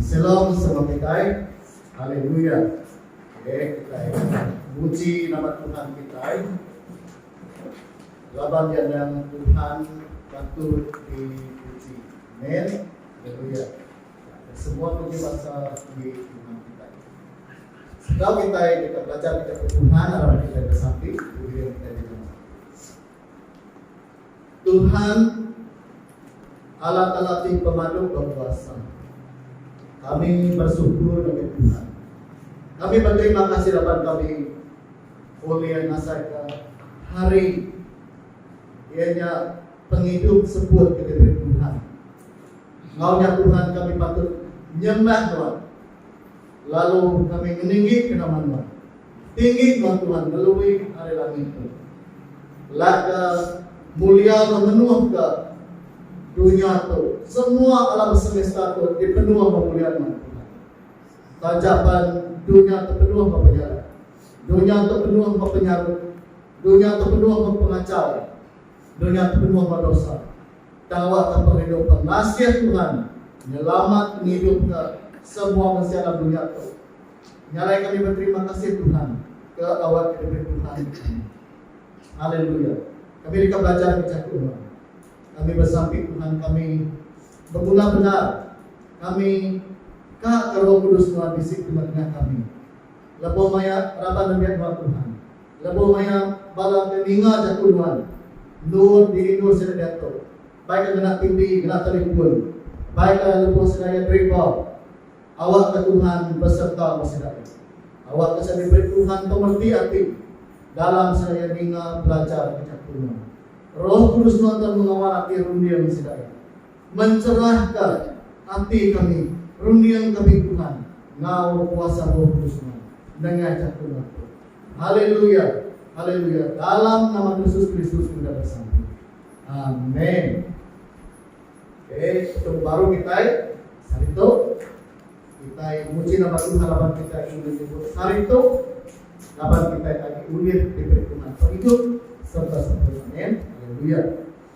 Selom sama kitai. Haleluya. Okey, kitai muji nama Tuhan kitai. Laban iya endang Tuhan patut dipuji. Amen. Haleluya. Semua puji bangsa di Tuhan kitai. Sekal kitai kita belajar kita ke Tuhan, arap kitai bersati, kemudian kitai Tuhan, Allah Taala ti pemadu bekuasa. Kami bersyukur ngagai Tuhan. Kami berterima kasih laban kami ulih ngasaika hari iya nya pengidup sebut ke diberi Tuhan. Enggau nya Tuhan kami patut nyembah Nuan lalu kami ngeninggi ke nama Nuan. Tinggi ba Tuhan ngelui ari langit tu. Laga mulia enggau menuh ga dunya tu. Semua alam semesta tu dipenuh ba mulia nama Tuhan. Taja pan dunya tu penuh ba penyarat. Dunya tu penuh ba penyarut. Dunya tu penuh ba pengachau. Dunya tu penuh ba dosa. Tang awak ka pengidup pengasih Tuhan nyelamat ngidup ka semua mensia alam dunya tu. Nyalai kami beterima kasih Tuhan ke awak ke debei Tuhan enggau kami. Haleluya. Kami deka belajar ke jaku nuan. Kami besampi Tuhan kami beguna bendar. Kami ka ke Roh Kudus nuan bisi tengah-tengah kami. Lebuh maya raban nembiak nuan Tuhan. Lebuh maya bala ke ninga jaku nuan. Endur di indu sida diatu. Bai ka ngena TV, ngena telefon. Bai ka lebuh seraya driver. Awakka Tuhan beserta besedaya. Awakka sida diberi Tuhan pemerti ati dalam sedaya ninga belajar ke jaku nya. Roh Kudus nonton mengawal ati runding sedaya. Mencerahka ati kami runding kami Tuhan enggau kuasa Roh Kudus nya nengah jaku nya tu. Haleluya! Haleluya! Dalam nama Kristus Kristus udah besampi. Amen. Okey, syukur baru kitai. Hari tu kitai muji nama Tuhan laban kitai ulih nyebut hari tu laban kitai tadi ulih diberi Tuhan pengidup serta sempurna. Amin. Haleluya.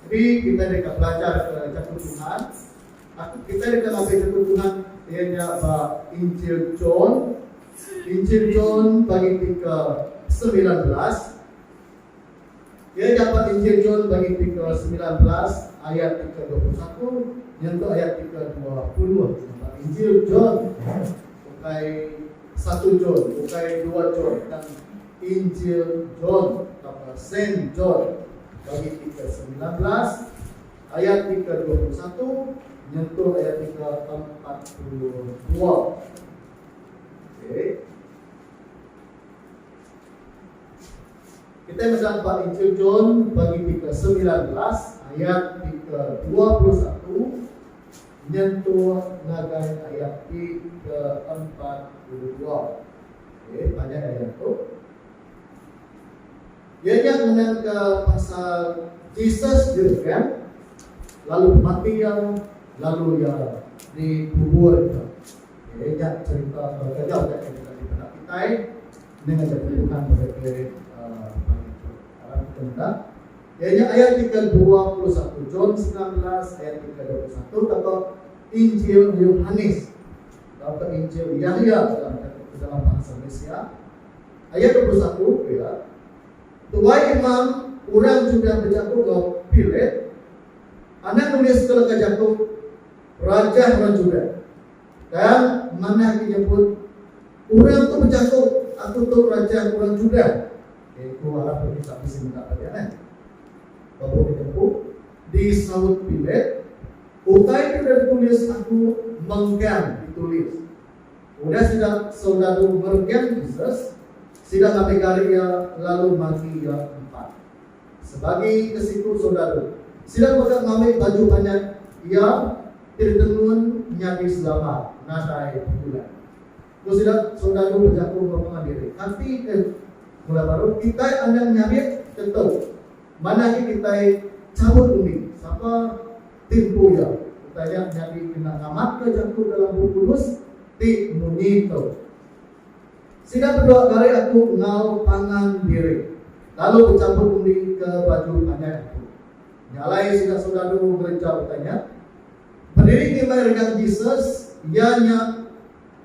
Jadi kita deka belajar ke jaku Tuhan. Aku kita deka ngambil jaku Tuhan ia nya ba Injil John. Injil John bagi ke 19 Iya nyapa Injil John bagi ti ke semilan belas ayat ti ke dua puluh satu nyentuk ayat ti ke dua puluh nyapa Injil John ukai satu John ukai dua John tang Injil John tauka Saint John bagi ti ke semilan belas ayat ti ke dua puluh satu nyentuk ayat ti ke empat puluh dua. Okey. Kitai mega ba Injil John bagi ti ke semilan belas ayat ti ke dua puluh satu nyentuh ngagai ayat ti ke empat puluh dua. Okey, panjai ayat tu. Iya nya ngenangka pasal Jesus dibengkang, lalu bemati iya, lalu iya dikuburka. Okey, nya cherita ke kejau nya ke dipeda kitai Nya ngagai aku Tuhan pasal kelirik pagi tu. Arap kita meda, iya nya ayat ti ke dua puluh satu, John semilan belas ayat ti ke dua puluh satu tauka Injil Yohanes tauka Injil Yahya dalam dalam bahasa Malaysia. Ayat dua puluh satu pia, Tuai imam orang Judah bejaku enggau Pilat, Anak nulis ke leka jaku, Raja orang Judah. Tang, manah ke nyebut, Orang tu bejaku, Aku tu raja orang Judah. Iaitu arah pergi ka bisi meda peda neh. Lebuh ditempu, disaut Pilat, Utai ti udah ditulis aku mengkang ditulis. Udah sida soldadu merengkang Jesus, sida ngambi gari iya lalu magi iya empat. Sebagi ke siku saudara, sida mega ngambi baju panjai iya ti ditenun nyadi selamat nadai pikulan. Ku sida, saudara bejaku enggau pangan diri, Ati ke mula baruh, kitai anang nyarik ke tu. Manah agi kitai chabut undi. Sapa ti empu iya, utai nya nyadi kena ngamatka jaku dalam Bup Kudus ti munyi tu. Sida bedua narik aku enggau pangan diri lalu bechampur undi ke baju panjai aku. Nya alai sida soldadu ngereja utai nya. Bediri ngimbai regang Jesus, iya nya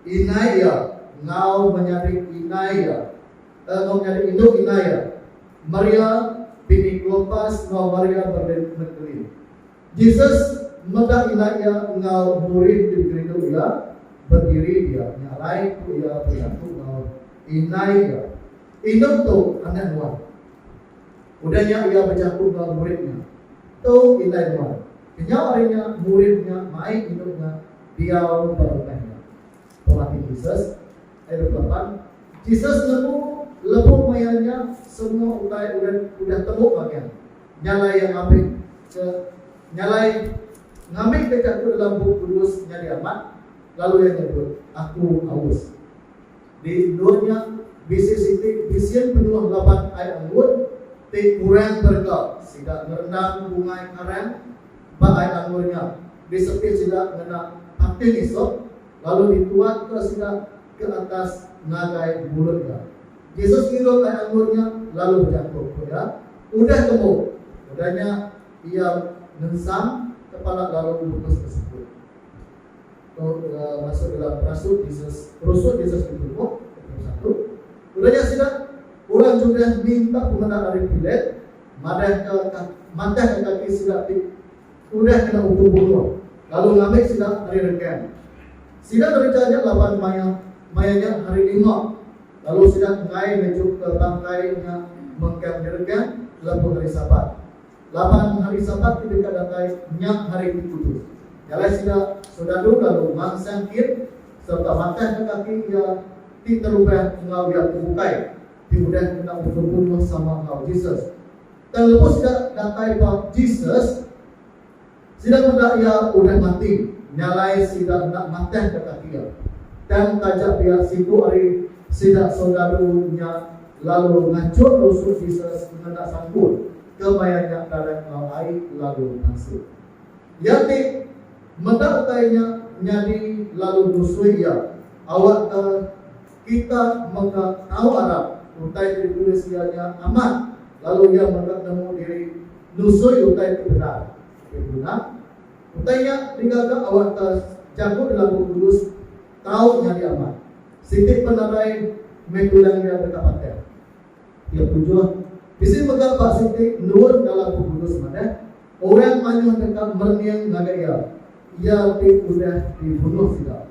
inai iya enggau menyadi inai iya, eh enggau menyadi indu inai iya, Maria bini Klopas enggau Maria Magdalene. Jesus meda indai iya enggau murid ti bekerindu iya bediri dia nya alai ku iya bejaku enggau indai iya, Indu tu anak nuan. Udah nya iya bejaku enggau murid nya, Tu indai nuan. Kenyau ari nya murid nya mai indu nya diau ba rumah iya. Pemati Jesus, ayat dua puluh lapan, Jesus nemu lebuh maya nya semua utai urang udah tembu magang. Nyalai iya ngambik ke nyalai ngambik ke jaku dalam Bup Kudus nyadi amat, lalu iya nyebut, Aku aus. Di endur nya, bisi siti bisin penuh laban ai anggur ti kurang berega. Sida ngerendam bungai karang ba ai anggur nya, disepit sida ngena pating isop, lalu dituatka sida ke atas ngagai mulut iya. Jesus ngidup anak embun nya, lalu bejaku ku iya, Udah tembu! Udah nya, iya ngengsang kepala lalu lebuh besekut. Tu masuk dalam perasu Jesus, perusu Jesus ditubuh, Petrus satu. Udah nya sida, orang Judah, minta pemeda ari Pilat madahka, matahka kaki sida ti. udah kena ukum bunuh lalu ngambi sida ari rengkang. Sida bereja nya laban maya maya nya Hari Lima lalu sida enggai ngejupka bangkai nya mengkang di rengkang lebuh Hari Sabat. Laban Hari Sabat ti deka datai nya Hari ti Kudus, jalai sida sodalu lalu mansang kit sereta matahka kaki iya ti terubah enggau iya ti bukai ti udah kena ukum bunuh sama enggau Jesus. Tang lebuh sida datai ba Jesus, sida meda iya udah mati, nyalai sida enda matahka kaki iya. Tang taja pia siku ari sida soldadu nya lalu ngachur rusuk Jesus ngena sangkul ke maya nya darat enggau ai lalu mansut. Iya ti meda utai nya nyadi lalu nusui iya, awakka. Kita mega tau arap utai ti ditulis iya nya amat lalu iya mega nemu diri nusui utai ti bendar. Tapi bendar, utai nya digaga awak ta jaku dalam Bup Kudus tau nyadi amat. Siti penarai meh tulang iya deka pateh. Iya pujuh, bisi mega ba siti endur dalam Bup Kudus madah, orang mayuh deka merening ngagai iya, iya ti udah dibunuh sida.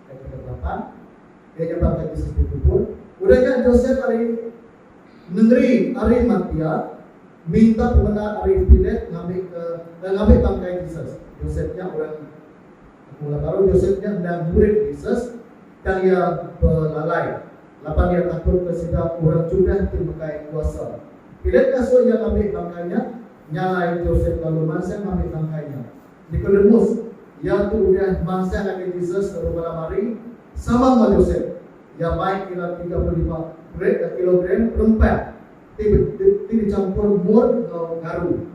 Ke peda belatan, ke nyambar ke ti sepu kubur, udah nya Josep ari nengeri Arimatia minta pemenda ari Pilate ngambi ke eh, ngambi bangkai Jesus. Josep nya orang Mula baru Josep nya endang murid Jesus, tang iya belalai laban iya takut ke sida orang Judah ti megai kuasa. Pilate ngasuh iya ngambi bangkai nya, nyalai Josep lalu mansang ngambi bangkai nya. Nikodemus, iya tu udah mansang ngagai Jesus lalu malam hari, sama enggau Josep. Iya mai kira tiga puluh lima kilogram rempah ti ti bechampur mur enggau garu.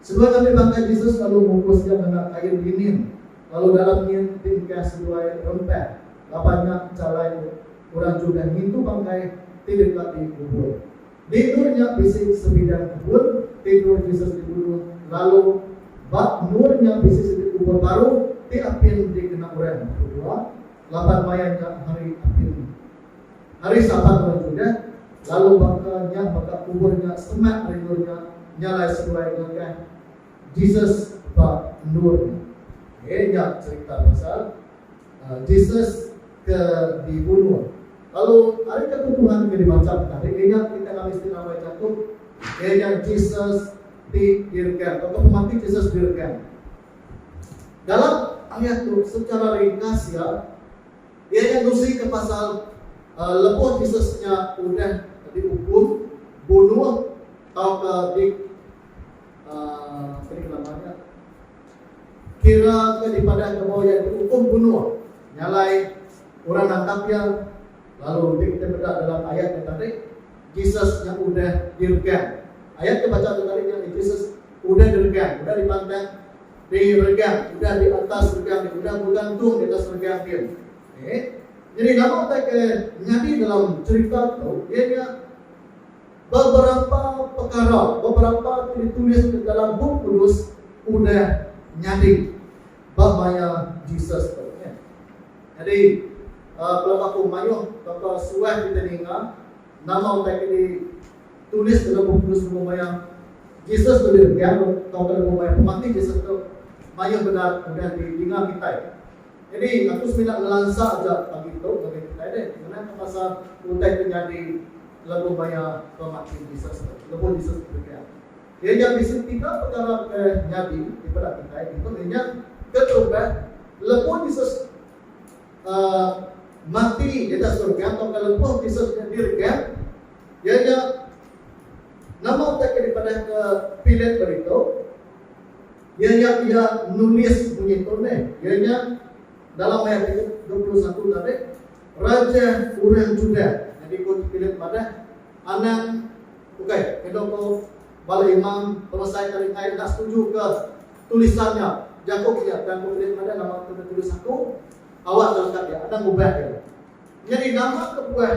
Seduai ngambi bangkai Jesus lalu mungkus iya ngena kain linin, lalu dalam nyin ti engkah seduai rempah laban nya chalai orang Judah ngintu bangkai ti deka dikubur. Tidur nya bisi sebidang kebun tidur Jesus dibunuh lalu ba endur nya bisi siti kubur baru ti apin dikena orang tu jua laban maya nya hari apin hari Sabat orang Judah lalu baka nya mega kubur nya semak ari endur nya nya alai seduai ngakah Jesus ba endur nya. Okey nya cerita pasal Jesus ke dibunuh. Lalu, ari ketu Tuhan ke dibacamka, ari ninga kita ngambika isi rambai jaku, iya nya Jesus didirga tauka pemati Jesus dirga. Dalam ayat tu, secara ringkas iya, iya nya ngusika pasal lebuh Jesus nya udah diukum, bunuh tauka di, kadi ke nama nya, Kira ke dipadah ngemau iya diukum bunuh nyalai orang nangkap iya, lalu ti kita meda dalam ayat nya tadi Jesus nya udah diregang. Ayat ke bacha tu tadi nyadi Jesus udah diregang, udah dipantang diregang, udah di atas regang dia, udah begantung di atas regang dia. Okey. Jadi nama utai ke nyadi dalam cerita tu, iya nya Beberapa pekara, beberapa ti ditulis di dalam Bup Kudus udah nyadi ba maya Jesus tu. Nyadi, uh, pelaba aku mayuh baka suah kitai ninga nama utai ke ditulis dalam Bup Kudus lebuh maya Jesus tu diregang tauka lebuh maya pemati Jesus tu, mayuh bendar udah didinga kitai. Jadi aku semina ngelansa aja pagi tu ngagai kitai deh ngenangka pasal utai ke nyadi lebuh maya pemati Jesus tu. Lebuh Jesus bepergian, iya nya bisi tiga pekara ke nyadi ti peda kitai ditu iya nya, Ketumbek, lebuh Jesus uhh mati ngagai surga tauka lebuh Jesus nya diregang, iya nya nama utai ke dipadahka Pilate ba ditu, Iya nya pia nulis munyi tu meh, iya nya dalam ayat ke dua puluh satu tadi, Raja orang Judah. Nyadi ku Philip madah, Anang, ukai, enda ko bala imam peresai ke ditai enda setuju ke tulisan nya jaku ke iya. Tang ku Philip madah, Nama ke ditulis aku? Awak ke leka iya, anang ubah iya. Nyadi nama kebuah?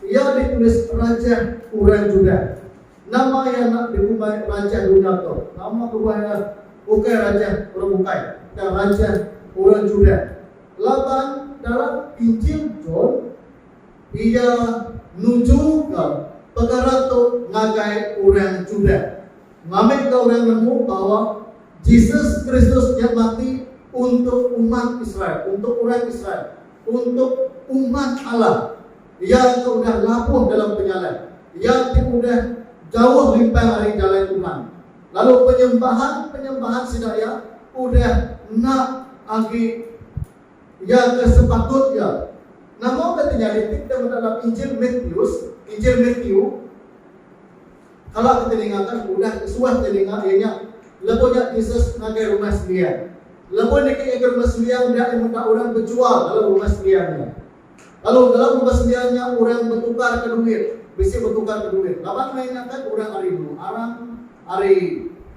Iya ditulis rajah orang Judah. Nama iya enda dikumbai rajah dunya tu? Nama kebuah iya ukai rajah orang bukai, tang rajah orang Judah? Laban dalam Injil John, iya nujuka pekara tu ngagai orang Judah. Ngambika orang nemu bahawa Jesus Kristus nya mati untuk umat Israel, untuk orang Israel. Untuk umat Allah, iya ke udah labuh dalam penyalai, iya ti udah jauh limpang ari jalai Tuhan, lalu penyembahan-penyembahan sida iya udah enda agi iya ke sepatut iya. Nama udah tenyadi ti kita meda dalam Injil Matius, Injil Matiu? Kala ke teningakan udah ke suah teninga iya nya, lebuh nya Jesus ngagai Rumah Sembiang. Lebuh niki iya ke Rumah Sembiang nya iya meda orang bejual dalam Rumah Sembiang nya. Lalu dalam Rumah Sembiang nya orang betukar ke duit, bisi betukar ke duit. Laban meh nya kan orang ari menua arang, ari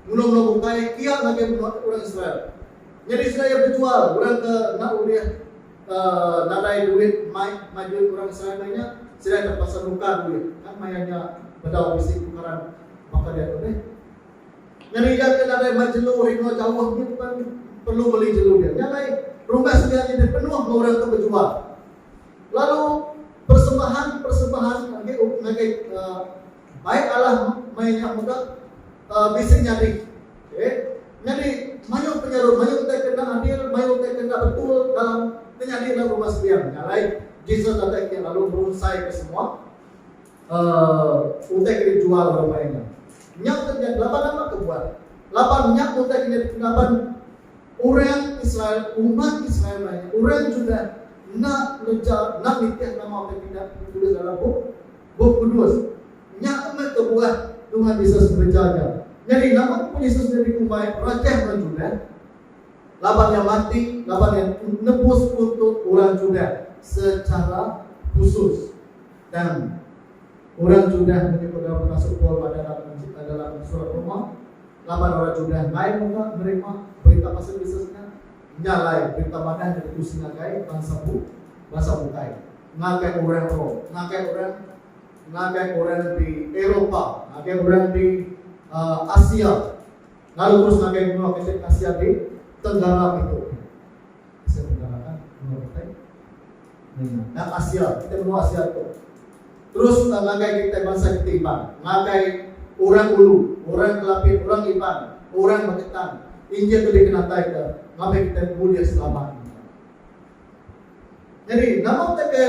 menua menua bukai kia ngagai menua orang Israel. Nyadi sida iya bejual orang ke enda ulih. Ka nadai duit mai majui orang seramai nya sida terpaksa nukar duit kan maya nya bedau bisi tukaran baka dia tu deh. Nyadi iya ke nadai mai jelu rino jauh nya pen perlu meli jelu dia. Nya alai rumah sedia nya deh penuh enggau orang ke bejual. Lalu persembahan-persembahan age ngagai Ai alah meh nya mega bisi nyadi. Okey. Nyadi mayuh penyeru, mayuh utai ke enda adil, mayuh utai ke enda betul dalam ke nyadi dalam rumah sembiang. Nya alai Jesus datai kiya lalu merunsaika semua uhh utai ke dijual orang mai nya. Nya utai ke nyadi laban nama ke buat? Laban nya utai ke nyadi laban orang Israel, umat Israel mai nya, orang Judah enda ngereja, enda nitih nama utai pindah ke ditulis dalam bup Bup Kudus. Nya meh kebuah Tuhan Yesus ngereja nya. Nyadi nama kebuah Yesus nya dikumbai Rajah orang Judah? Laban Iya mati laban Iya nebus untuk orang Judah sechara khusus. Tang, orang Judah meri pegau penasuk Paul ba dalam Surat Roma laban orang Judah enggai mega nerima berita pasal Yesus nya. Nya alai, Perintah Badan Ngeretusi Ngagai Bansa Bu, Bansa Bukai, ngagai orang Rome, ngagai orang ngagai orang di Eropa, ngagai orang di uh, Asia, lalu terus ngagai menua kecil Asia di Tenggara itu. Asia Tenggara kan menua kita. Nang Asia, kitai menua Asia tu terus tang ngagai kitai bansa kitai Iban, ngagai Orang Ulu, Orang Kelapit, Orang Iban, Orang Magetan, injil tu dikenatai ke ngabai kitai bulih selamat mega. Nyadi nama utai ke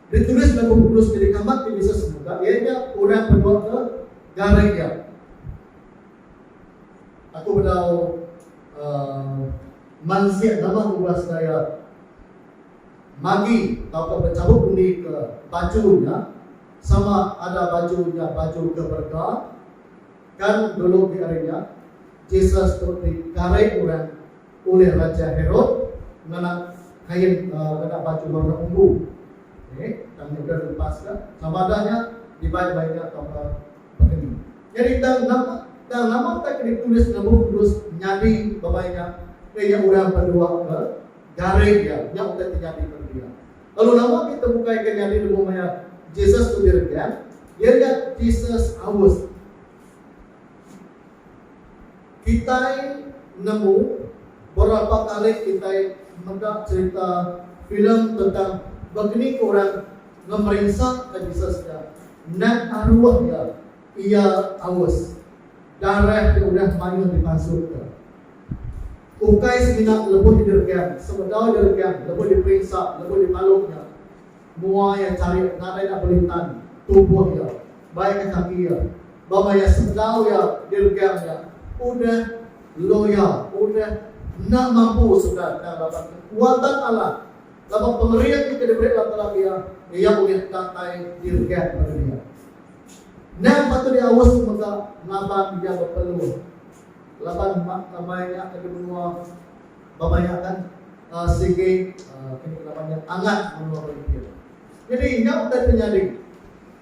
ditulis dalam bup kudus ke dikamat ti bisa semuka iya nya orang penua ke garai iya. Aku bedau uhh mansik nama ngubah segaya magi tauka bechabut undi ke baju nya sama ada baju nya baju ke berega kan dulu di ari nya Jesus tu di karing orang ulih Raja Herod ngena kain uhh ngena baju warna ungu. Eeh tang nya udah di lepas ka sama ada nya dibai maya nya tauka Baka ni. Nyadi tang nama tang nama tak ditulis enggau bup kudus nyadi bamai nya ke nya orang bedua ke garing iya nya utai ti nyadi peda dia. Lalu nama ti tebukai ke nyadi lebuh maya Jesus tu diregang iya nya Jesus August. Kitai nemu berapa kali kitai meda cerita filem tentang baka ni ke orang Ngemerinsa ke Jesus nya neg aruh iya, iya aus. Darah ke udah mayuh dipansutka ukai semina lebuh didergam sebedau diregam lebuh diperinsa lebuh dipalu nya mua iya charik nadai enda bulih tan tubuh iya bai ke kaki iya bama iya sebedau iya diregam nya udah loya udah enda mampu sebenar endang raban kekuatan Allah. laban pengering ti ke diberi Allah Taala iya, iya ulih datai direnggang pada dia. Endang patut diaus ke mega laban iya bepeluh laban mai nya ke di menua bamai nya kan uh, sigi uh, kini nama nya angat menua Berimpin. Jadi nya utai penyadi.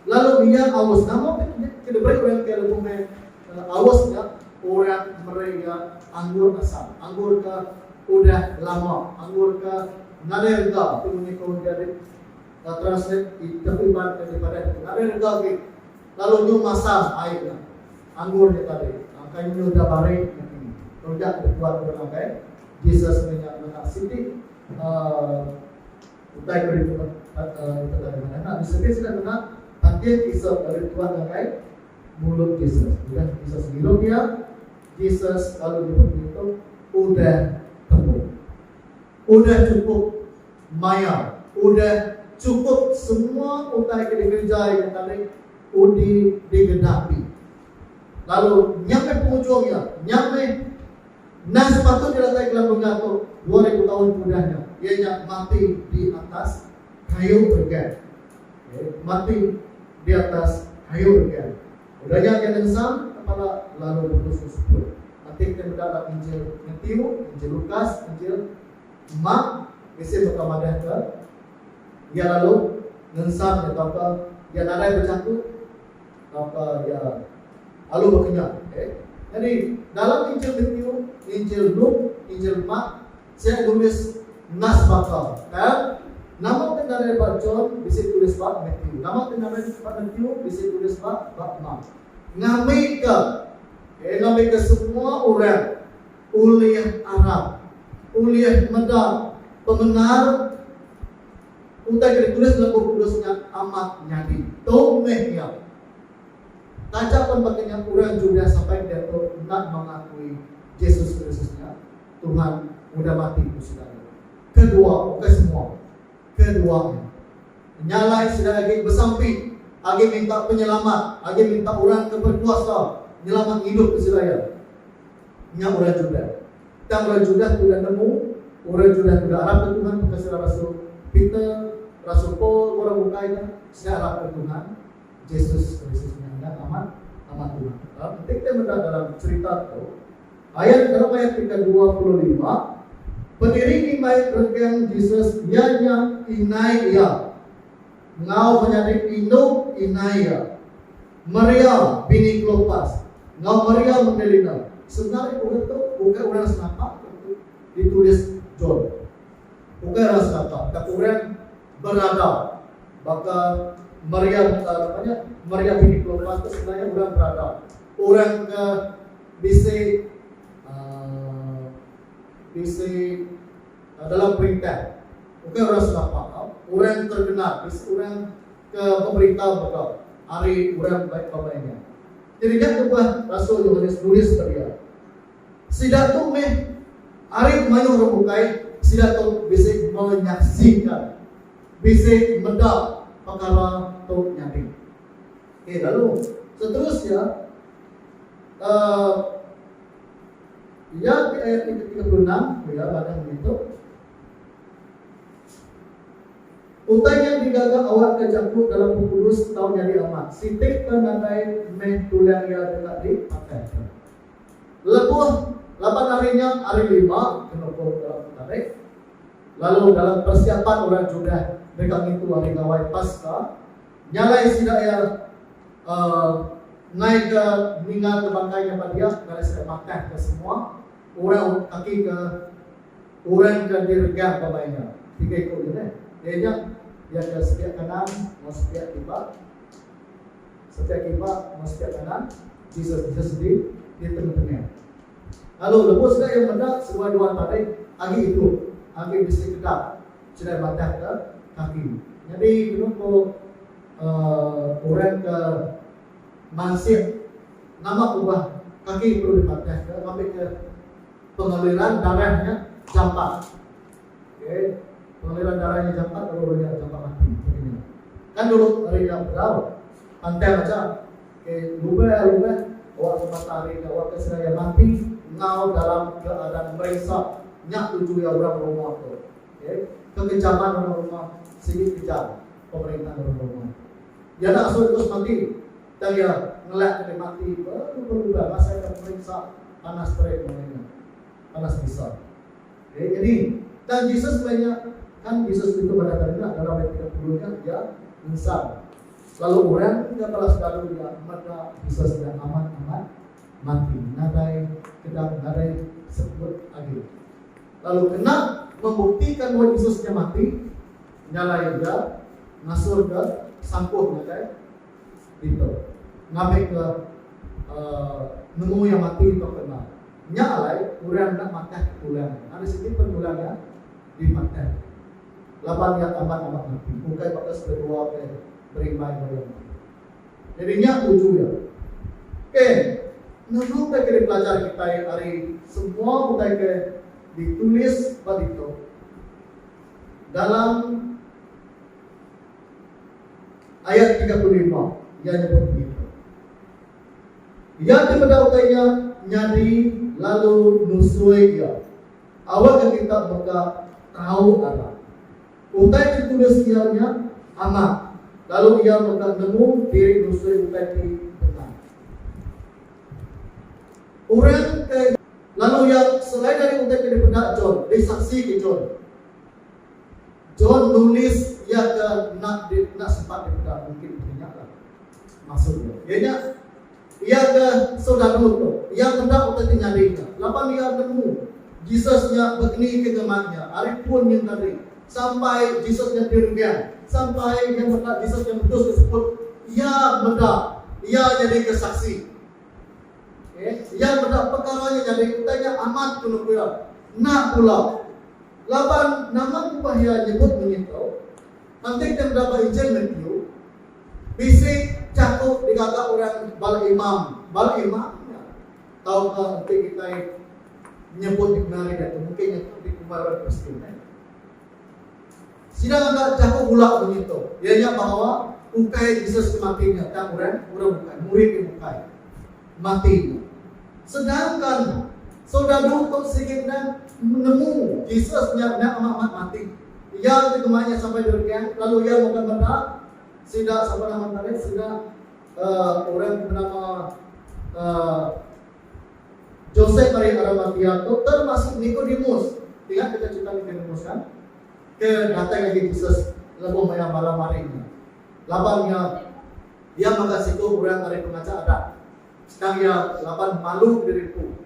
Lalu iya aus nama ke diberi orang ke lebuh Kala aus nya, orang meri iya anggur asam, anggur ke udah lama, anggur ke nadai rega, tu munyi ko David Translate Iban ke dipadah ditu, nadai rega agi, lalu nyu masam ai nya anggur nya tadi, kai munyi udah bari niti. Rega ti dipuat orang ngagai Jesus meh nya ngena siti utai ko ditu, Utai tadi madah enda disebit sida ngena tangkil isop lalu dituan ngagai. mulut Jesus. Bila Jesus ngirup iya, Jesus lalu nyebut pengitu, Udah tembu. Udah chukup maya. Udah chukup semua utai ke dikerejai ku tadi undi digenapi. Lalu nya meh pengujung iya. Nya meh nang sepatut didatai Kelang Bengkah tu dua ribu taun ke udah nya, iya nya mati di atas kayu peregang. mati di atas kayu nyian. Udah nya iya ngengsang kepala lalu bekusung seput. Ati ke meda ba Injil Matiu, Injil Lukas, Injil Mark bisi mega madahka iya lalu ngengsang nya tauka iya nadai bejaku tauka iya lalu bekenyah. Okey. Nyadi dalam Injil Matiu, Injil Luke, Injil Mark Sek nulis Nas baka, Tab, Nama ti ngaran ba John bisi tulis ba Matthew. Nama ti ngaran ba Matthew bisi tulis ba ba Mark. Ngambika, okay, ngambika semua orang ulih arap, ulih meda pemendar utai ke ditulis dalam Bup Kudus nya amat nyadi. Tu meh iya. Taja pen baka nya orang Judah sampai diatu enda mengakui Jesus Kristus nya. Tuhan udah mati ku sida agi. Ke dua, bukai semua. Ke dua nya. Nya alai sida agi besampi, agi minta penyelamat, agi minta orang ke berkuasa nyelamat ngidup ke sida iya. Nya orang Judah. Tang orang Judah tu udah nemu, orang Judah tu udah arap ke Tuhan baka sida rasul Peter, rasul Paul enggau orang bukai nya, sida arap ke Tuhan Jesus Kristus nya enda amat, amat Tuhan. Enti kitai meda dalam cherita tu, Ayat dalam ayat ti kedua puluh lima, Pendiri ngimbai regang Jesus iya nya inai iya, enggau menyadi indu inai iya, Maria, bini Klopas, enggau Maria Magdalena. Sebenari orang tu ukai orang senapa ke ditulis John. Ukai orang senapa, tang orang berada. Baka Maria, napa nya, Maria bini Klopas tu sebenari orang berada. Orang ke. Bisi bisi dalam perintah ukai orang Sarawak tau orang terkenal bisi orang ke beberita mega ari orang baik bala inya. Jadi nya tubah rasul Yohanes nulis ba dia. Sida tu meh ari mayuh orang bukai sida tu bisi menyaksika bisi meda pekara tu nyadi. Okey lalu seterus iya Aa Iya ti ayat ti ketiga puluh enam, ku iya baka ngitu. Utai nya digaga awakka jaku dalam Bup Kudus tau nyadi amat. Siti ke nadai meh tulang iya deka dipakaika. Lebuh laban ari nya, Hari Lima, ke nukung dalam Petarikh, lalu dalam persiapan orang Judah deka ngintu Hari Gawai Paska, Nyalai sida iya enggai ke ninga ke bangkai nya padiak ngagai sida matah ke semua orang kaki ke orang ke diregang ba bai nya. Tiga iku nya deh. Iya nya iya ke sepiak kanan enggau sepiak kiba. Sepiak kiba enggau sepiak kanan Jesus Jesus di di tengah-tengah. Lalu lebuh sida iya meda seduai dua tarik agi idup agi bisi kedap. Serai batang ke kaki. Nyadi kenu ku orang ke mansik nama kubah kaki perlu dibatang ke ngambi ke pengaliran darah nya jampat. Okay. Pengaliran darah nya jampat lalu orang nya jampat mati. Kan dulu ari nya berau pantang aja. Ke lubai alu meh awak ke patah ari ke awak ke seraya mati enggau dalam keadaan meriksa nya tuju iya orang rumah tu ke kekejaman orang rumah sigi kejam pemerintah orang rumah iya nya asu Entus mati tang iya ngelak ke dia mati belubai-lubai masai ke pemeriksa panas terik mengenai nya panas bisa ke nyadi tang Jesus meh nya kan Jesus ditu madah kali nya dalam ayat tiga puluh nya iya ngensan. Lalu orang ke bala sekalu iya mega bisa sida amat-amat mati nadai kedap nadai sebut agi. Lalu kena membuktikan bahawa Jesus nya mati, nyalai Iya, ngasulka sampuh ngagai ditu ngambika nemu Iya mati tauka enda. Nya alai orang enda madah ke tulang Iya. Nadai siti pen tulang Iya. di Makkah laban iya amat-amat napi bukai baka sekedua ke berimbai ba iya enti. Nyadi nya tuju iya. Ke nunukka keli pelajar kitai ari semua utai ke ditulis ba ditu dalam ayat tiga puluh lima iya nyebut ngitu. Iya ti meda utai nya nyadi lalu nusui iya. Awakka kita mega tau ngarap. Utai ti kudus iya nya amat, lalu iya mega nemu diri nusui utai ti bendar. Orang ke. Lalu iya, selain ari utai ke dipeda John, disaksi ke John. John nulis iya ke enda enda sempat dipeda mungkin bisi nya lah maksud iya. Iya nya, Iya ke soldadu tu, iya meda utai ti nyadi nya laban iya nemu Jesus nya begeni ke ngema iya ari pun nyengkari. Sampai Jesus nya direnggang, sampai iya meda Jesus nya mudus ke seput, iya meda iya nyadi ke saksi. Okey, iya meda pekara nya nyadi utai nya amat tunu ku iya. Enda pula laban nama kubah iya nyebut mengitu. Kantik ti meda ba Injil Matthew. Bisi jaku digaga orang bala imam, bala imam nya. Tauka enti kitai nyebut dictionary diatu mungkin nya tu dikumbai orang Kristian eh. Sida ngaga jaku bula munyi tu, iya nya bahawa ukai Jesus ti mati nya tang orang orang bukai, murid ti bukai mati nya. Sedangkan soldadu tu sigi enda nemu Jesus nya enda amat-amat mati. Iya enti dema iya sampai di Rengkang lalu iya muka meda sida sapa nama tarikh sida uhh orang ti benama uhh Josep ari Aramatia tu termasuk Nikodemus. Ingat kita cerita Nikodemus kan? Ke datai ngagai Jesus lebuh maya malam hari nya. Laban iya iya maga siku orang ari pengacha adat. Sekali iya laban malu diri empu.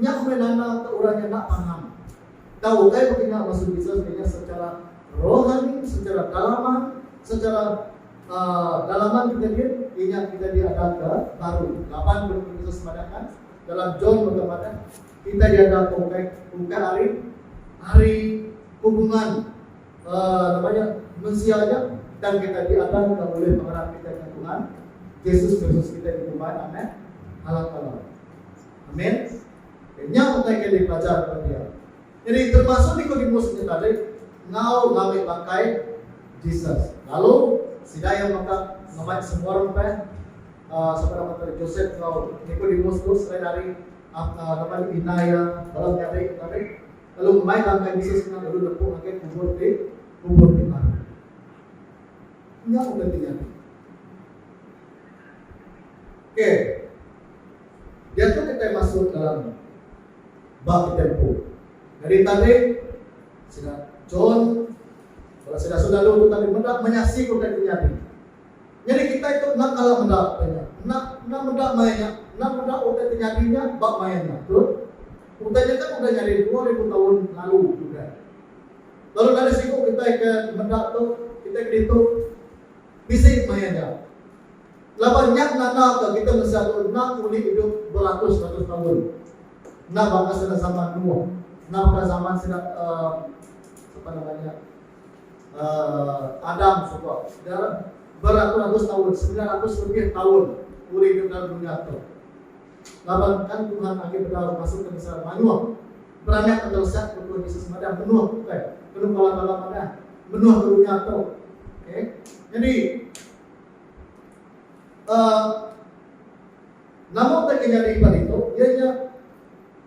Nya meh nanda ke orang nya enda paham. Tau utai pekeh nya maksud Jesus meh nya secara rohani, secara dalaman, secara uhh dalaman kita diri inya kita diada ke baru. Laban ke Bup Jesus madahka dalam John mega madah kita diada ke ukai ukai ari ari hubungan uhh nama nya mensia aja tang kita diada ke ulih pengarap kita enggau Tuhan Jesus Kristus kita dikumbai anak Allah Taala. Amen. Ke nya utai ke dipelajar ba dia. Nyadi termasuk ni ko Dimus nya tadi enggau lami bangkai Jesus. Lalu sida iya mega ngemai semua orang peh uh, sama nama tadi Joseph enggau Nikodemus tu selain dari uh, uh, nama ni bina iya dalam nyadi tadi. Lalu ngemai bangkai Jesus nya lalu nepuk ngagai kubur di kubur di mana. Nya utai ti nyadi. Okay. Diatu kitai masuk dalam ba kitai empu. Nyadi tadi, sida John bala sida sodalu tu tadi meda menyasiko utai ti nyadi. Nyadi kitai tu enda kala meda utai nya. Enda enda meda maya nya, enda meda utai ti nyadi nya ba maya nya. Betul? Utai nya kan udah nyadi dua ribu taun lalu udah. Lalu dari siku kitai ke meda tu, kitai ke ditu bisi maya nya. Laban nya nandaka kita mensia tu enda ulih idup beratus-ratus taun. Enda baka sida zaman Noah. Enda baka zaman sida um apa nama nya um Adam suba. Sida beratus-ratus taun, semilan ratus lebih taun ulih idup dalam dunya tu. Laban kan Tuhan agi bedau ngasuh ke mensia mayuh beranak ke teresak ku Tuhan Yesus madah menuh ke bukai. Kenu Bala Bala madah menuh ke dunya tu. Okay. Nyadi. Uh, nama utai ke nyadi ba ditu iya nya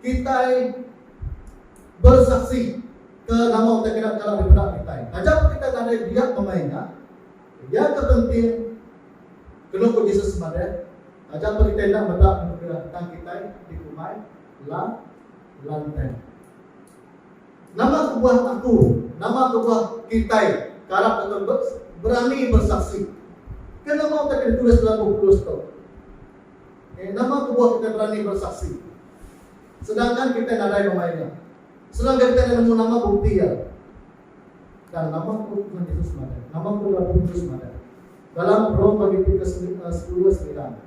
kitai bersaksi ke nama utai kena kala dipeda kitai. Taja pa kitai nadai biak pemai nya, iya ke penting kenu ku Jesus madah, taja pa kitai enda meda anugerah tang kitai dikumbai la lantang. Nama kebuah aku, nama kebuah kitai ke arap deka berani bersaksi? Ke nama utai ke ditulis dalam bup kudus tu? Okey, nama kebuah kitai berani bersaksi? Sedangkan kitai nadai bemai nya. Sedangkan kitai enda nemu nama bukti iya. Dan nama ku Tuhan Yesus madah, nama ku Rabu Kudus madah. Dalam Rome bagi ti ke sepuluh semilan.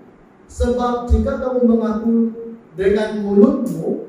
Sebab jika kamu mengaku dengan mulutmu,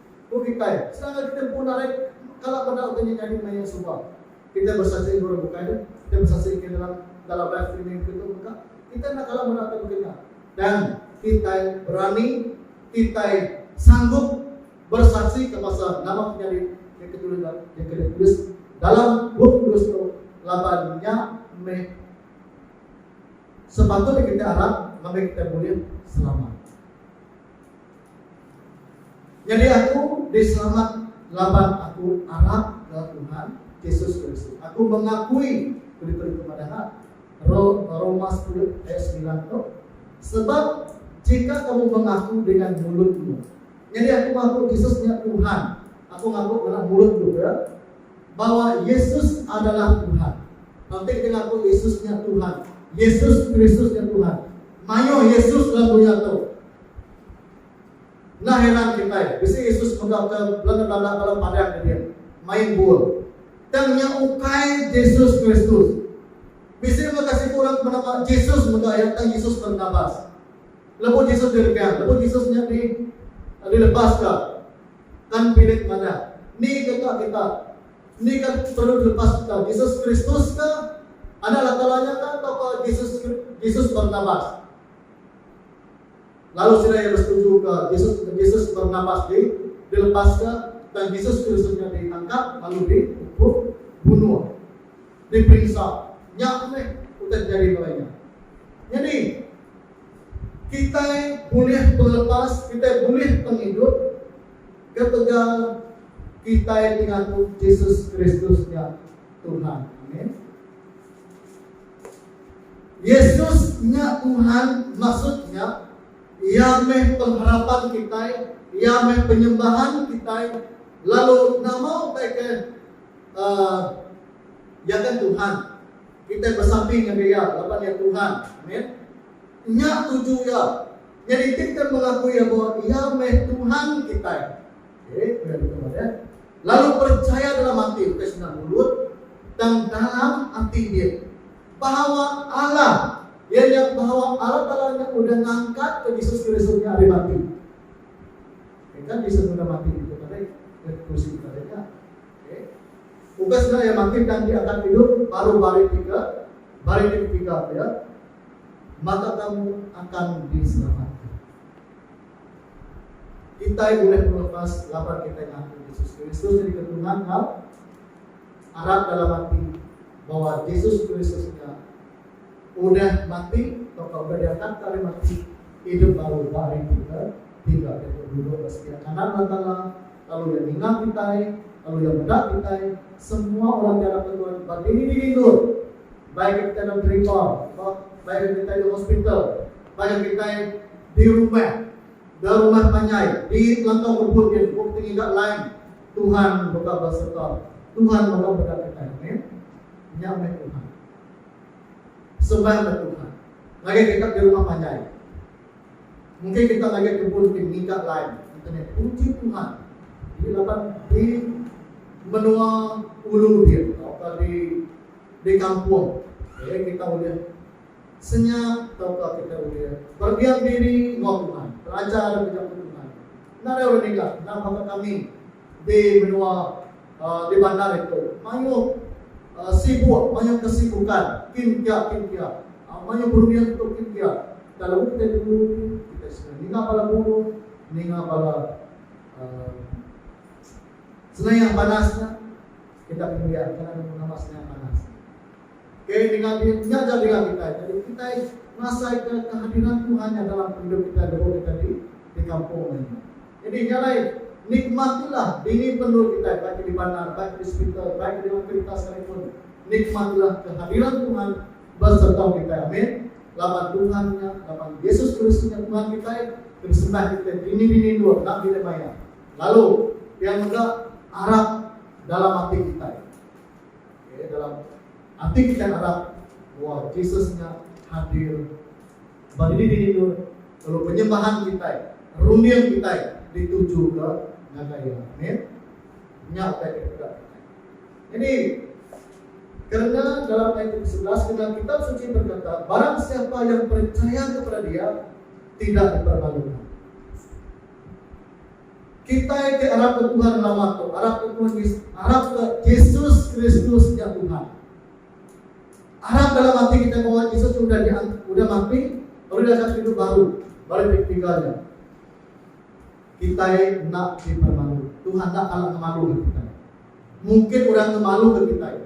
Ku kitai, sedangkan kitai empu narit kala bendar utai nya nyadi pengayuh suba. Kitai besaksi enggau orang bukai nya, kitai besaksi engka dalam dalam live streaming dikena tu mega. Kitai enda kala meda utai baka nya. Dan kitai berani, kitai sanggup bersaksika pasal nama ke nyadi deka tulis dalam deka ditulis dalam Bup Kudus tu laban nya meh sepatutnya kitai arap ngagai kitai bulih selamat. Nyadi aku diselamat laban aku arap enggau Tuhan Jesus Kristus. Aku mengakui kelimpah ditu madahka Roma sepuluh ayat semilan tu, Sebab jika kamu mengaku dengan mulutmu. Nyadi aku ngaku Jesus nya Tuhan. Aku ngaku dengan mulutku pia. bawa Yesus adalah Tuhan. Lantik deka ku Yesus nya Tuhan. Yesus Kristus nya Tuhan. Mayuh Yesus dalam dunya tu. Enda heran kitai, bisi Yesus mega ke belanda-belanda bala padang ke dia, main bul. Tang nya ukai Jesus Kristus. Bisi mega siku orang ke benama Jesus mega iya, tang Jesus Barnabas. Lebuh Jesus diregang, lebuh Jesus nya di dilepaska. Tan Philip madah, Ni ke ka kita? Ni ke perlu dilepas kita, Jesus Kristus ke? Anak Latala nya ka tauka Jesus Jesus Barnabas? Lalu sida iya besetuju ka Jesus Jesus Barnabas di dilepas ke tang Jesus Kristus nya ditangkap lalu di ukum bunuh. Diperinsa. Nya meh utai terjadi kala nya. Nyadi, Kitai bulih belepas, kitai bulih pengidup ketegal kitai dingaku Jesus Kristus nya Tuhan. Amin. Yesus nya Tuhan maksud nya Iya meh pengharapan kitai, Iya meh penyembahan kitai, lalu nama utai ke uh, Iya kan Tuhan. Kitai besamping ngagai Iya laban Iya Tuhan. Amin. Nya tuju Iya. Nyadi enti kitai mengakui Iya bahawa Iya meh Tuhan kitai. Okey, peda betul meh ya. Lalu percaya dalam ati, bukai senang mulut, tang dalam ati dia. Bahawa Allah, iya nya bahawa Allah Taala nya udah ngangkatka Jesus Kristus nya ari mati. Engka Jesus udah mati ditu tadi, di kursi tadi nya. Ukas nya iya makin dang diangkat idup baru barit tiga, barit ti ketiga pia, maka kamu akan diselamatka. Kitai bulih pengelepas laban kitai ngaku Jesus Kristus nyadika Tuhan enggau arap dalam ati bahwa Jesus Kristus nya udah mati tauka udah diangkatka ari mati idup baru barit ti ketiga, pia tu duduk ba sebiak kanan Allataala. Lalu iya ninga kitai, lalu iya meda kitai, semua orang ti anak ke Tuhan ba diri-diri endur. Bai ke kitai dalam terima, ba, bai ke kitai di hospital, bai ke kitai di rumah, da rumah panjai, di telantau kebun nya, ku pengiga lain, Tuhan mega besereta, Tuhan mega meda kitai. Amin. Nya meh Tuhan. Sembahlah Tuhan. Ngagai kita di rumah panjai. Enggai ke tak layan tebus ke ngiga line internet puji Tuhan enti laban di menua ulu din tauka di di kampung eh kita ulih senyap tauka kita ulih berdiam diri enggau Tuhan, belajar ke jaku Tuhan. Nadai orang ngiga, enda baka kami. di menua di bandar itu mayuh sibuk mayuh kesibukan kin kia kin kia mayuh berunding tu kin kia kelabu kitai dulu tu kitai suka ninga bala burung ninga bala senayak banas nya kitai pendiam kena nemu nama senayak banas nya ok ninga bin nya ja dinga kitai jadi kitai ngasai ka kehadiran tuhan nya dalam pengidup kitai lebuh kitai di kampung nya. Jadi nya alai, nikmatilah dini pendu kitai baik ke di bandar, baik ke di sepital, baik ke di dalam kerita sekalipun. Nikmatilah kehadiran Tuhan besereta kitai. Amin. Laban Tuhan nya, laban Yesus Kristus nya Tuhan kitai, ke disembah kitai dini-dini endur enda bilih maya. Lalu, pia mega arap dalam ati kitai. Okey, dalam ati kitai arap bahawa Jesus nya hadir Sebab diri diri dua, lalu penyembahan kitai, runding kitai ditujuka ngagai Iya. Amin. Nya utai ti peda kitai. Nyadi, kerna dalam ayat ti kesebelas kena Kitab Suci berkata, Barang siapa yang percaya kepada Dia, tidak dipermaluka. Kitai ti arap ke Tuhan lama tu, arap ke Tuhan Yesus, arap ke Yesus Kristus nya Tuhan. Arap dalam ati kitai bawa Jesus tu udah diang udah mati lalu dia akan hidup baru bala ti ketiga nya. Kitai enda dipermalu. Tuhan enda kala ngemaluka kitai. Mungkin orang ngemaluka kitai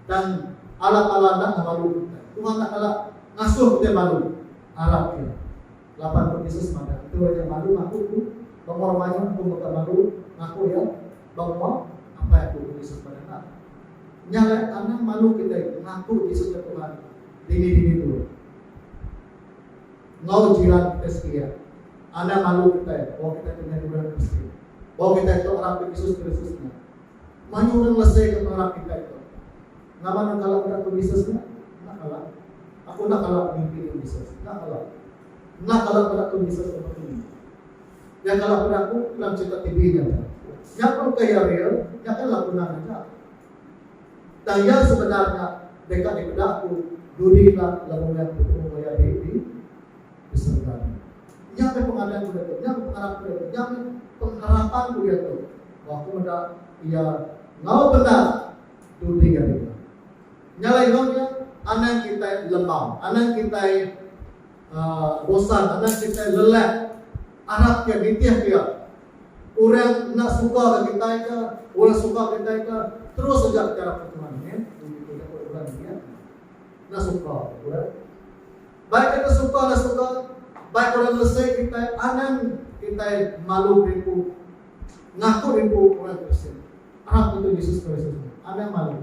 tang Allah Taala enda ngemaluka kitai. Tuhan enda kala ngasuh kitai malu. Arap iya. Laban tu Jesus madah, Enti orang nya malu ngaku aku, baka orang mayuh aku mega malu ngaku iya. Ba rumah, apai aku ke Yusuf ba Danang. Nya alai anang malu kitai ngaku Yusuf nya Tuhan dini-dini dulu. Enggau jiran kitai sekilia, anang malu kitai bawa kitai ke nyadi orang Kristian. Bawa kitai tu arap ke Yesus Kristus nya. Mayuh orang lese ke pengarap kitai tu. Nama nang kala meda tu Yesus nya? Enda kala. Aku enda kala ngemimpi tu Yesus. Enda kala. Enda kala meda tu Yesus ke begini. Nya kala aku daku kenang cerita TV nya tu. Nya pun ke iya real, nya kan laku nang aja. Tang iya sebedar nya deka dipeda aku dudi enda lebuh maya aku betemu enggau iya di di di serega tu. Nya meh pengadan ku diatu, nya meh pengarap ku diatu, nya meh pengharapan ku diatu bahawa aku meda iya enggau bendar dudi ari nya. Nya alai enggau nya, anang kitai lembam, anang kitai. Bosan anak kitai lelak arap ke nitih pia. Orang enda suka ke kitai ke orang suka kitai ke terus aja kitai arap ke Tuhan meh. Ini ke jaku orang nya nya. Enda suka ke orang. Baik kita suka enda suka, baik orang ngelesai kitai anang kitai malu beripu ngaku beripu orang Kristian. Arap ke tu Jesus Kristus meh. Anang malu.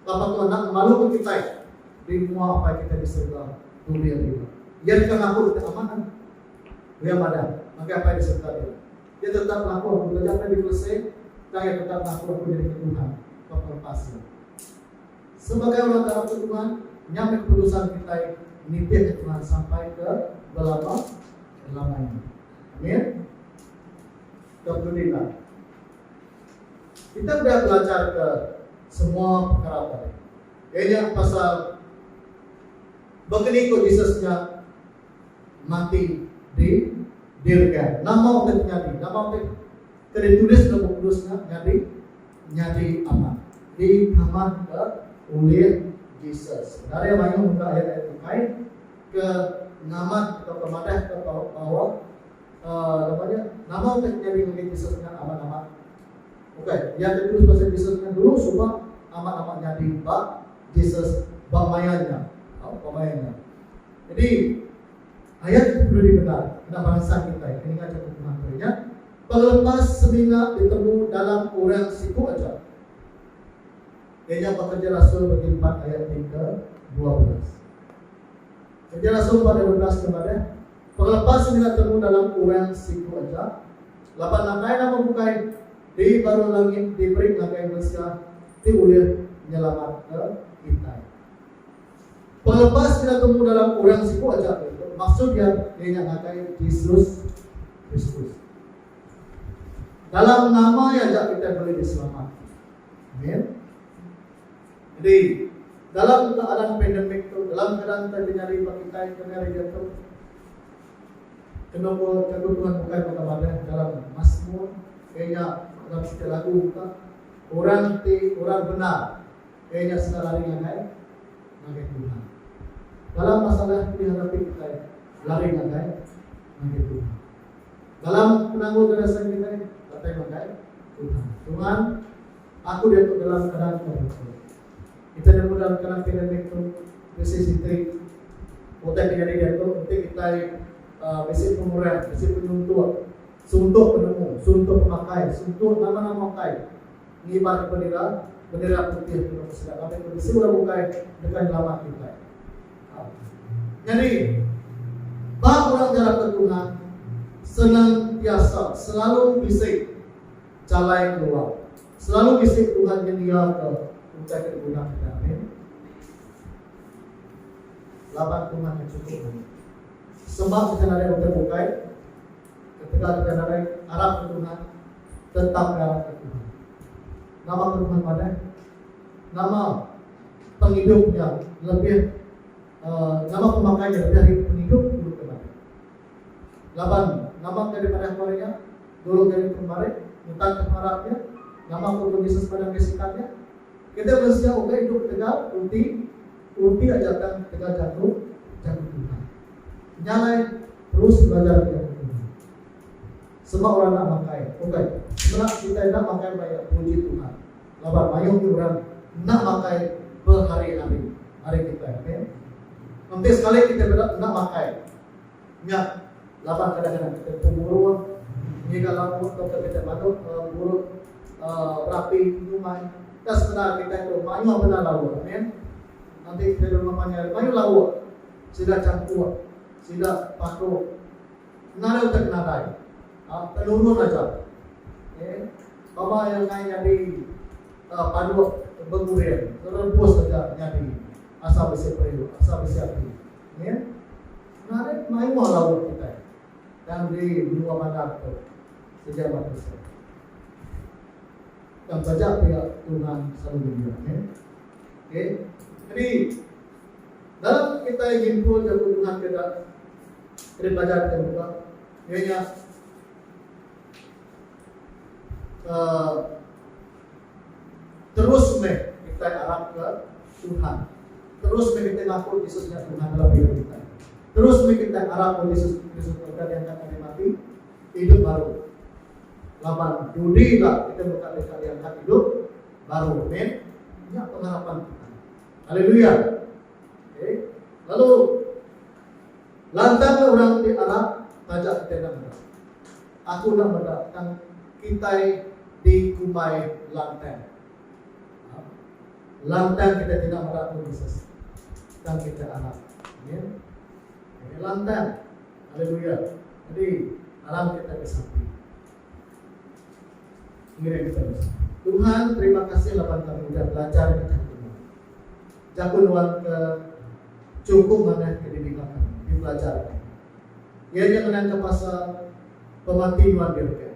Bapa tu enda ngemaluka kitai di mua Apai kitai di serega tu dia diri. Iya deka ngaku kitai amat ari Iya padah ngagai Apai di serega diri. Iya tetap ngaku aku taja meh dikelese tang iya tetap ngaku aku nyadika Tuhan ba pelepas iya. Sebagai orang ke aku Tuhan, nya meh keputusan kitai nitihka Tuhan sampai ke belama-lamanya. Amin. Ke penudi endang. Kita udah belacharka semua pekara tadi, iya nya pasal baka ni ku Jesus nya mati di dirga, nama utai ti nyadi, nama utai ke ditulis dalam Bup Kudus nya nyadi nyadi amat dikamatka ulih Jesus. Dari mayuh muka ayat-ayat bukai ke ngamat atau ke madahka bahawa. Nama nya? Nama utai ke nyadi ngagai Jesus nya amat amat? Ukai, iya enda terus pasal Jesus nya dulu suba amat amat nyadi ba Jesus ba maya nya. Tau, ba maya nya. Jadi, ayat tu perlu dipendar ngena baransang kitai ke ninga jaku Tuhan tu nya, Pengelepas semina ditemu dalam orang siku aja. Iya nya Pekerja Rasul bagi empat ayat ti ke dua belas. Pekerja Rasul empat ayat dua belas ke madah, Pengelepa semina temu dalam orang siku aja, laban nakai nama bukai di baruh langit diberi ngagai mensia ti ulih nyelamatka kitai. Pengelepa semina temu dalam orang siku aja ke ditu maksud iya iya nya ngagai Jesus Kristus. Dalam nama iya aja kitai bulih diselamat. Amin. Jadi, dalam keadaan pandemik tu, dalam keadaan nta ke nyadi ba kitai kena ari diatu, kenu ko Jaku Tuhan bukai baka madah dalam Masmur, iya nya dalam siti lagu ka, Orang ti orang bendar, iya nya sida lari ngagai ngagai Tuhan. Dalam masalah ti dihadapi kitai, lari ngagai ngagai Tuhan. Dalam penanggul garasan kitai, datai ngagai Tuhan. Tuhan. Aku diatu dalam keadaan ke bukai. Kitai nemu dalam tengah pandemik tu bisi siti utai ke nyadi diatu enti kitai bisi pengurang, bisi penyuntok, suntok penemu, suntok pemakai, suntok nama-nama utai ngibarka bendera, bendera putih ti baka sida ngagai ke bisi orang bukai deka nyelamat kitai. Nyadi, ba orang ngarapka Tuhan, senantiasa, selalu bisi. Jalai keluar. Selalu bisi Tuhan nyediaka utai ke diguna kita. Amin. Laban Tuhan ke chukup maya. Semah kita nadai utai bukai, ketegal kita nadai arap ke Tuhan, tetap ke arap ke Tuhan. Nama ke Tuhan madai? Nama pengidupnya lebih uh, nama pemakainya lebih pengidup Laban, nama ke dipadah Maria, dulu ke dipun Marit, mutar ke pengarap iya? Nama ke pun Jesus madah ngai sikat iya? Kitai mensia ukai idup tegal uti uti aja tang tegal jaku jaku Tuhan. Nya alai terus belajar jaku Tuhan. Sema orang enda makai, ukai. Semena kitai enda makai maya puji Tuhan. Laban mayuh agi orang enda makai behari-hari ari kitai. Amen. Enti sekali kitai beda enda makai. Nya laban kadang-kadang kitai penguruh ngiga lampuk tauka kitai manuk ngurut berapi nyumai tang semina kitai tu mayuh bela lauk. Amen. Enti kitai di rumah panjai mayuh lauk sida champur sida paduh ngena dau tang nadai penurun aja. Okay. Baba iya nengah nyadi paduh bengureng rebus aja nyadi asal bisi periuk asal bisi ati. Nya narit mayuh lauk kitai tang di menua bandar tu sedia batu seh. Tang taja pia Tuhan selalu nyedia nya. Okey. Jadi dalam kitai nyimpul jaku Tuhan ke enda ke dipelajar kitai buka iya nya uh, terus meh kitai arapka Tuhan. Terus meh kitai ngaku Jesus nya Tuhan dalam hidup kitai. Terus meh kitai arap ba Jesus Kristus udah diangkat ari mati, idup baru. Laban dudi ila kitai mega deka diangkat idup baru. Amen. Nya pengharapan kitai. Haleluya. Okay. Lalu lantang orang ti arap taja kitai enda meda. Aku enda meda tang kitai dikumbai lantang. Lantang kita tidak meda pun Jesus tang kita arap. Amin. Amin lantang. Haleluya. Jadi alam kita disapi. Ngiring kita disapi. Tuhan terima kasih laban kami udah belajar di jaku nuan. Jaku nuan ke cukup mana ke didengar kami, dipelajar kami. Iya nya ngenangka pasal pemati nuan ke beken.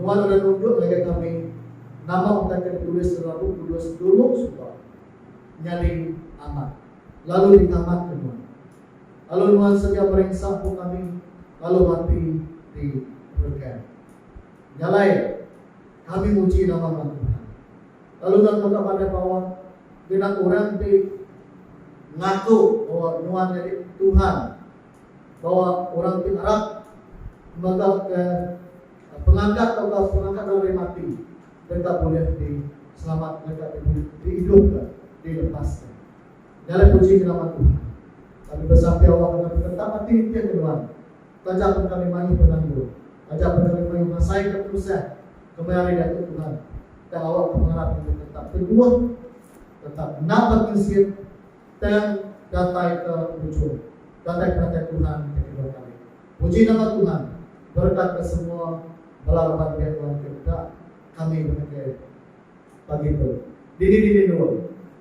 Nuan udah nunjuk ngagai kami nama utai ke ditulis dalam Bup Kudus dulu suba nyadi amat lalu ditamatka nuan. Lalu nuan sedia merinsa ku kami lalu mati di beken. Nyalai! Kami muji nama ba Tuhan. Lalu nuan mega bada bawa genap orang ti ngaku bawa nuan nyadi Tuhan, bawa orang ti arap mega ke pengangkat tauka pengangkat orang ari mati deka bulih di selamat deka di bulih di idup ka di lepas ka. Nya alai puji ke nama Tuhan. Kami besampia awak deka tetap ati nitih ke nuan. Taja pun kami mayuh penanggul, taja pun kami mayuh ngasaika tusah, kemai ari Diatu Tuhan tang awakka pengarap kitai tetap teguh, tetap endang bekinsit tang datai ke ujung, datai penatai Tuhan ti kedua kali. Puji nama Tuhan, berekatka semua bala raban biak Tuhan ke deka kami betegeh pagi tu. Dini-dini endur.